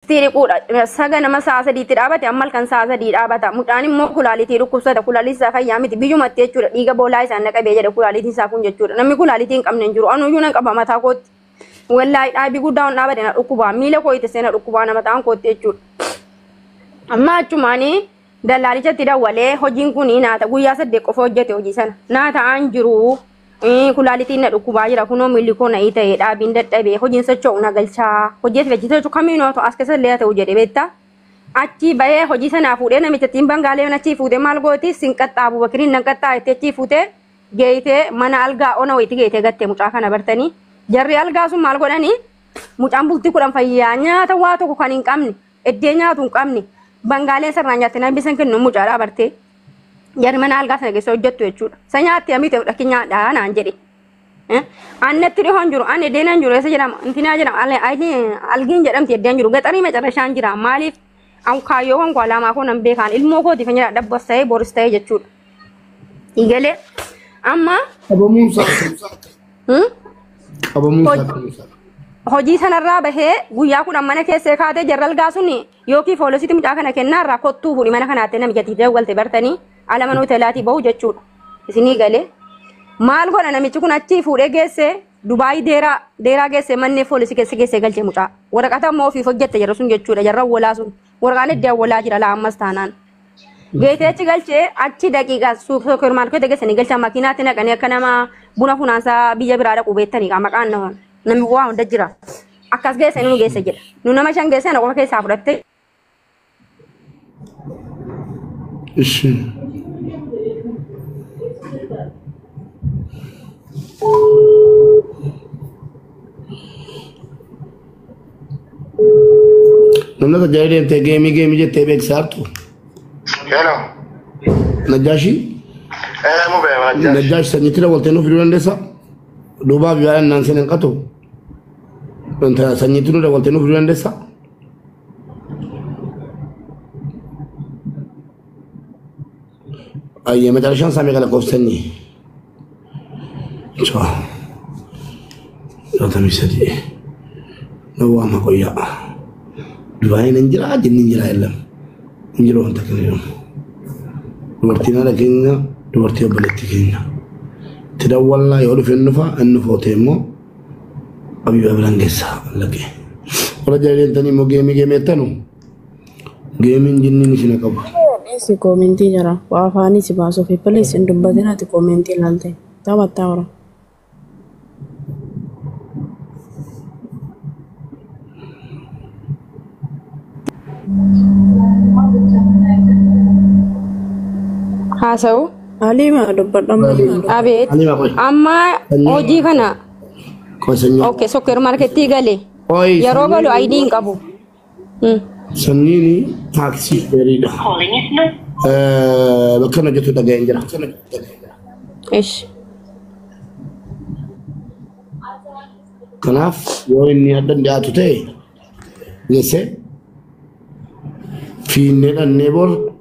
itti dhiquudha. Saga nama sa'a sadiitti dhaabate amma halkan sa'a sadii dhaabata. Mucaan immoo kulaalitii dhukkubsata. Kulaaliin isaa fayyaa miti. Biyyumatti jechuudha. Dhiiga boolaa isaan na qabee jedha kulaalitiin isaa kun jechuudha. Namni kulaalitii hin qabne hin jiru. Anuyyuu nan qaba mataa kootti. Wallaahi dhaabii guddaa ol dhaabate na dhukkubaa. Miila koo ittisee na dhukkubaa na mataan kootti jechuudha. Amma achumaanii Dallaalichatti dawwalee hojiin kun naata guyyaa saddeet qofa hojjete hojii sana. Naa ta'aan jiru kulaalitiin na dhukkubaa jira kunoo miilli koo na'ii ta'e dhaabiin dadhabee hojiin socho'u na galchaa hojjeeti hojii socho'u kamiin haa ta'u as keessa illee haa ta'u jedhe beektaa. Achii bahee hojii sanaa fuudhee namittattiin bangaalee mana achii fuutee maal gooti sin qaxxaa abubakiriin nan qaxxaa itti achii fuutee geeytee mana algaa ona wayiitti geeytee gattee mucaa kana bartanii jarri algaa sun maal godhanii mucaan bultii kudhan fayyaa nyaata waa tokko kan hin qabne Eddee nyaatu hin qabne. Bangaaleen sirnaan nyaatte namni san kennu mucaadhaa bartee. Jarri mana algaa sana keessa hojjettu jechuudha. Sa nyaatte amite fudhakki nyaadhaa naan jedhe. Annatti dhihoon jiru, an eddeen an jiru, eessa jedhama, intinaa jedhama, algiin jedhamti eddeen jiru, gaxarii macarrashaan jira. Maaliif an kaayyoowwan koo alaamaa koo nan beekaan ilmoo kootiif hin jiraadha bos ta'ee boris ta'ee jechuudha. Eegalee amma Dhabamuun isaa. Hmm? Qabamuu isaa Hoj- qabuu isaa. hojii sanarraa bahee guyyaa kudhan mana keessee kaatee jarral gaasuun yookiin foolisitti mucaa kana kennaa irraa kottuu fuudhi mana kanaatti namijatti dawwalte bartanii ala mana hoteelaatii bahu jechuudha isinii galee maal godha namichi kun achii fuudhee geessee dubaayii deeraa deeraa geessee mannee foolisii keessa geessee galchee mucaa waraqata immoo ofiif hojjette jarra sun jechuudha jarra walaa sun Warqaan itti awwalaa jira laa ammas taanaan. Geetee achi galchee achi daqiiqaa suuper maarkeetii geessanii galchaa makiinaatti naqanii akka nama buna funaansaa biyya biraa dhaqu beektanii kaa maqaan nama namni waa hunda jira. Akkas geessanii nu geessa jedha. Nu nama shan geessee na qofa keessaa fudhattee Ishi. Namni tajaajila deemtee geemii geemii jettee beeksisaa jirtu. Hello. Najjaashii Eh, mu bee wajjin. Najjaash sanyittira waltee nuuf fiduu dandeessaa? Duubaa fi baay'een naan seenan qatu. Wanta sanyitti nurra waltee nuuf fiduu dandeessaa? Ayyee macarashaan isaa meeqa lakkoofsanni? Caa. Jaatamii sadii. Na waama qoyyaa. Dubaayii nan jiraa jinni hin jiraa illam. Hin jiru wanta kana jedhamu. Dubartiin haadha keenya dubartii obboleetti keenya. Itti dawwallaa yoo dhufe hin dhufa hin dhufa otee immoo abiba biraan geessaa lagee. Warra jaallatanii immoo geemii geemeettanu. Geemiin jinniin isin haa qabdu. Dhiisi koomentii jira. Waa afaanii si baasuuf. Please hin dubbatin ati koomentii ilaalte. Taphattaa hora. haasa'u Haliima dubbadhamma. abeet Ani maqoy. amma hojii kana Qoy sanyii. ok sokkeer markettii gale Qoy yeroo sanyii. galu ayidii hin qabu Sanniini taaksii dheeriidha. Calling is not. Bakka na jettu dhaga'een jira. Ish. Kanaaf yoo inni addan dhiyaatu ta'e geesse fiinnee dhannee bor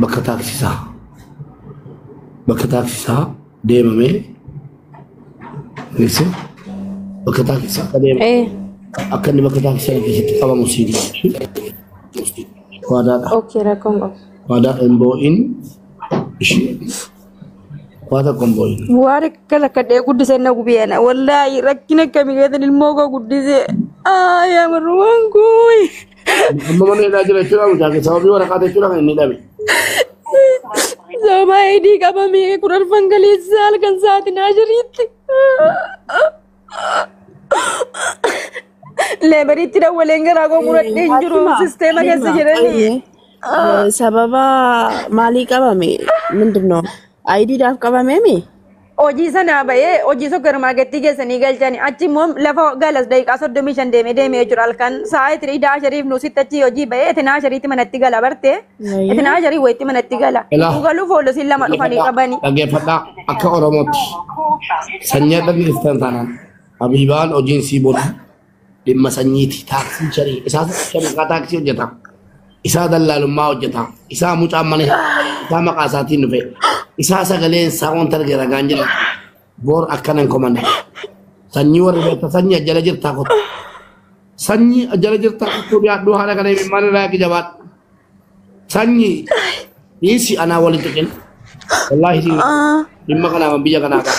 bakka taaksisaa bakka taaksisaa deemamee geesse bakka taaksisaa akka deemu Eh, akka inni bakka taaksisaa keessatti qabamu sii gaafachuu waadaadha okay, rakkoon qabu. waadaa hin boo'in ishii waa tokko hin boo'in Waan akkas akka dhee guddisee na gubiyana. Wallaahi rakkina akkamii keessan ilmoo koo guddisee. Aa yaa marrumaan koo. Amma mana hidhaa jira jechuudha mucaa kee sababii waraqaa jechuudha kan inni dhabe. Sababa eedii qabamee kurarfan galeessa halkan saatinaa jiriitti. Leebariitti dawwaleen garaa koo muradhee hin jiru Halima, sisteema keessa Halima, jedhanii. Ayyee, eh, sababa maalii qabame? Mindinoo? Ayidiidhaaf qabamee mi? Hojii sanaa bahee hojii sukkarmaaketii geessanii galchani. Achi immoo lafa galas daqiiqaa soddomii shan deemee deemee jechuudha halkan. Sa'a itti idaa shariif nuusitti achi hojii bahee itti naa shariitti manatti gala barte. Itti naa sharii wayitti manatti gala. Ilaa. Itti galuuf hoolisiin lama dhufanii qabani. Dhaggeeffadhaa akka Oromootti sanyii akka keessan taanaan Habiibaan hojiin sii booda dhimma sanyiiti taaksii sharii isaa shariikaa taaksii hojjeta isaa dallaalummaa hojjeta isaa mucaan mana isaa maqaa isaatiin dhufe isaa sagaleen isaa wanta arge ragaan jedha boor akkana hin komanne sanyii warri beekta sanyii ajjala jirtaa kota sanyii ajjala jirtaa kottuu dhiyaadhuu haala kana himin maal irraa jabaadhu sanyii dhiisi anaa walitti qin wallaahi dhimma kanaa biyya kanaa ba'a.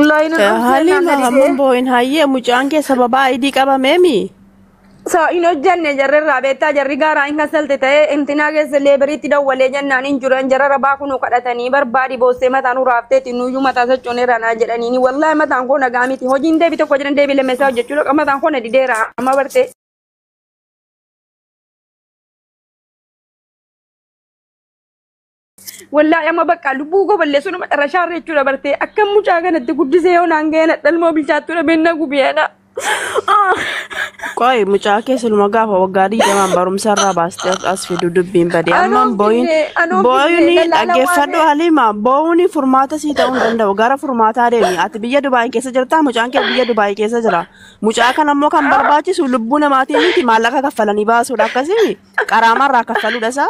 Laayina dhufee Haliima naan hamman didee. boo'in hayyee mucaan kee sababaa idii qabameemi. Sa hin hojjanne jarri irraa beektaa jarri gaaraa hin kasalte ta'ee intinaa keessa leebariitti dawwalee jennaan hin jiran jara rabaa kunuu kadhatanii barbaadi boossee mataan uraafteeti nuyyuu mataa sochoonee ranaa jedhaniini wallaahi mataan koo nagaa miti hojiin deebi tokko jedhan deebi lammeessaa hojjechuu dhaqa mataan koo na dideera amma bartee. Wallaahi amma bakka lubbuu koo balleessu nama xarashaa irra jechuudha bartee akka mucaa kanatti guddisee yoo naan ga'een hadhalmoo bilchaattuu dhabeen na gubiyeedha. Qoy mucaa kee siluma gaafa waggaa digdamaan barumsa irraa baastee as fidu dubbiin badee Anoo ammaan booyin finne- anoo booyuni finne dallala dhaggeeffadhu waan- haliima booyuni furmaata sii ta'uu hin danda'u gara furmaataa deemi ati biyya Dubaay keessa jirta mucaan kee biyya Dubaay keessa jira mucaa kan ammoo kan barbaachisu lubbuu namaatiin miti maallaqa kaffalanii baasuudha akkasii qaraamarraa kaffaluudha isaa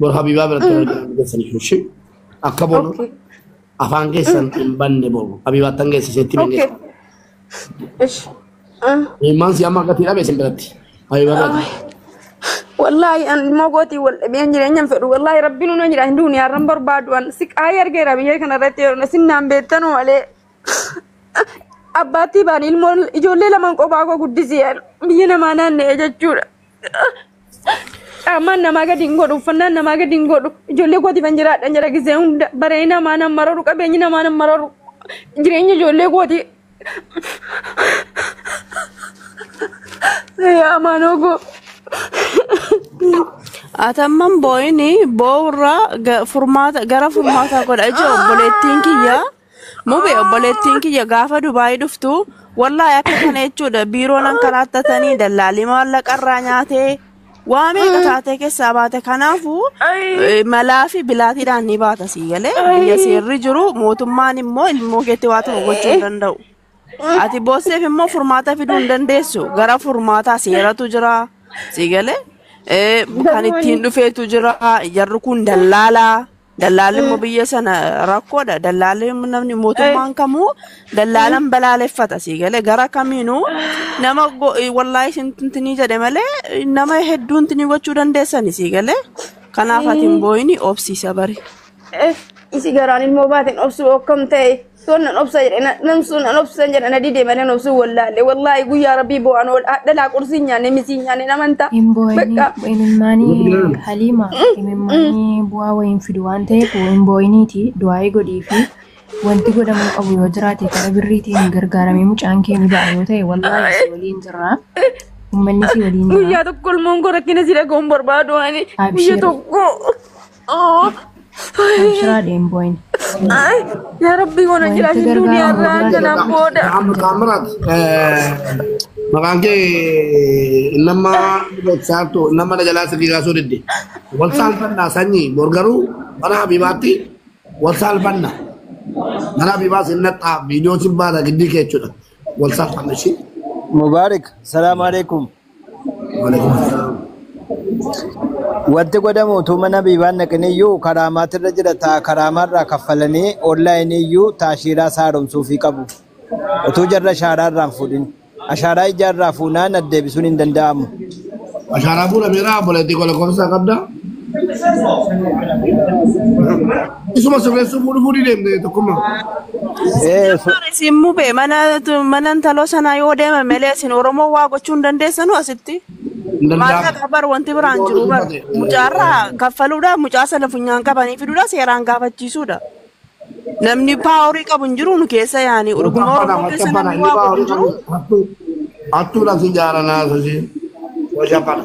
Bor Habibaa biratti warra jiran keessan iyyuu ishee akka boonu Okay. afaan keessan hin banne boru. Habibaa tan geesse isheetti hin Okay. geesse. Ish. Ah. Ilmaan si amma gatii dhabe isin biratti. Habibaa irratti. Wallaahi an ilmoo gootii wal dhabeen jireenya hin fedhu. Wallaahi rabbiin una jira hin duuni har'an barbaadu an si qaayee argeera biyyee kana irratti yeroo isin naan beektanu malee. Abbaattii baan ilmoo ijoollee lamaan qophaa koo guddisee biyya namaa naanna'ee jechuudha. Qaamaan namaa gadi hin godhu, uffannaan namaa gadi hin godhu. Ijoollee kootiif hin jiraadhan jira gisee hunda. Baree namaa nan mararu, qabeenyi namaa nan mararu. Jireenya ijoollee kooti. Yaa amaanoo koo. Atamman boo'ini boo'urraa ga- furmaata gara furmaataa godha ijoo obboleettiin kiyyaa. Mube obboleettiin kiyya gaafa Dubaayii dhuftu wallaahi akka kana jechuudha biiroon ankaraattatanii dallaalii maallaqa irraa nyaatee waa meeqa taatee keessaa baate kanaafu eh, malaa fi bilaatiidhaan ni baata sii galee biyya seerri jiru mootummaan immoo ilmoo keetti waa tokko gochuu hin danda'u. Ati boosseef immoo furmaata fiduu hin dandeessu. Gara furmaataa seeratu jira. Si galee Eh, kan Garuu ittiin ani dhufeetu jira. Jarri kun dallaalaa. Dallaalli immoo biyya sana rakkoodha. Dallaalli namni eh, mootummaan kamuu eh, dallaalan balaaleffata. Si galee gara kamiinuu nama go- eh, wallaahi sintinii jedhe malee eh, nama hedduun tinii gochuu dandeessani. Si galee kanaaf ati hin eh, booyini obsiisa bari. eh, isi garaan ilmoo baateen obsuu akkam ta'e. Soon nan obsa jedhe na- namsuun nan obsan jedhe na dide malee obsuun wallaalle wallaahi guyyaa rabbii boo'an ol hadhalaa qursii hin nyaanne misii hin nyaanne namanta Hin boo'in bakka imimmaanii haliima imimmaanii bu'aa wayiin fidu waan ta'eef hin boo'iniiti du'aa'ii godhii fi wanti godhamuu qabu yoo jiraate gara birriitiin gargaaramee mucaan kee ni ba'a yoo ta'e wallaahi si waliin jirra ummanni si waliin jira guyyaa tokko ilmoon koo rakkina si dhaga'uun barbaadu ani guyya Abshir. tokko Abshiraa dheenboin. Ay, yaa Rabbii mana Wanti jiraachin gargaaru duuniyaa irraa gurguraatu kanaan dha. booda. Muhammad Taamiraat maqaan kee nama saartu nama na jalaa sirrii kaasuu didde. Wal saalfannaa sanyii bor garuu mana Habibaatti wal saalfanna. Mana Habibaa sin naxxaa viidiyoo sin baana giddii kee jechuudha. Wal saalfanna ishii. Mubarak, salaam alaikum. Wanti godhamu utuu mana biibaan dhaqiniyyuu karaamaatirra jira ta'a karaamaarraa kaffalanii onlaayiniiyyuu taashiiraa isaa haaromsuufii qabu. Utuu jarri ashaaraa irraa hin fuudhin. Ashaaraa ijaa irraa fuunaan addeebisuun hin danda'amu. Ashaaraa fuudhameera obboleettii koo lakkoofsa isaa qabdaa? Isuma sirreessuu fuudhu fuudhii deemte tokkummaa. Ee so Sijaafar isin mube mana mana intaloo sanaa yoo deeme malee isin Oromoo waa gochuu hin dandeessanu asitti. Hin danda'amu. Maallaqa bar wanti biraan Yoo jiru bar dubbate. mucaarraa kaffaluudha mucaa sana funyaan qabanii fiduudha seeraan gaafachiisuudha. Namni paaworii qabu hin jiru nu keessa yaani dhuguma Taphana Oromoo macha keessa bana namni inni waa godhu hin baawari jiru. taphatu. Hattuu hattuudhaan si jaaranaa sasii. Waja bana.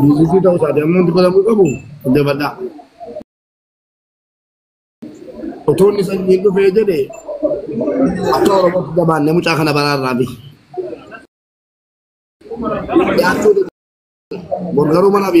Biiziisii ta'uu isaati amma wanti godhamuu qabu jabadhaa. Otoo inni sanyiin dhufee jedhe akka Oromootti jabaanne mucaa kana baraarraa fi. Borgaruu mana fi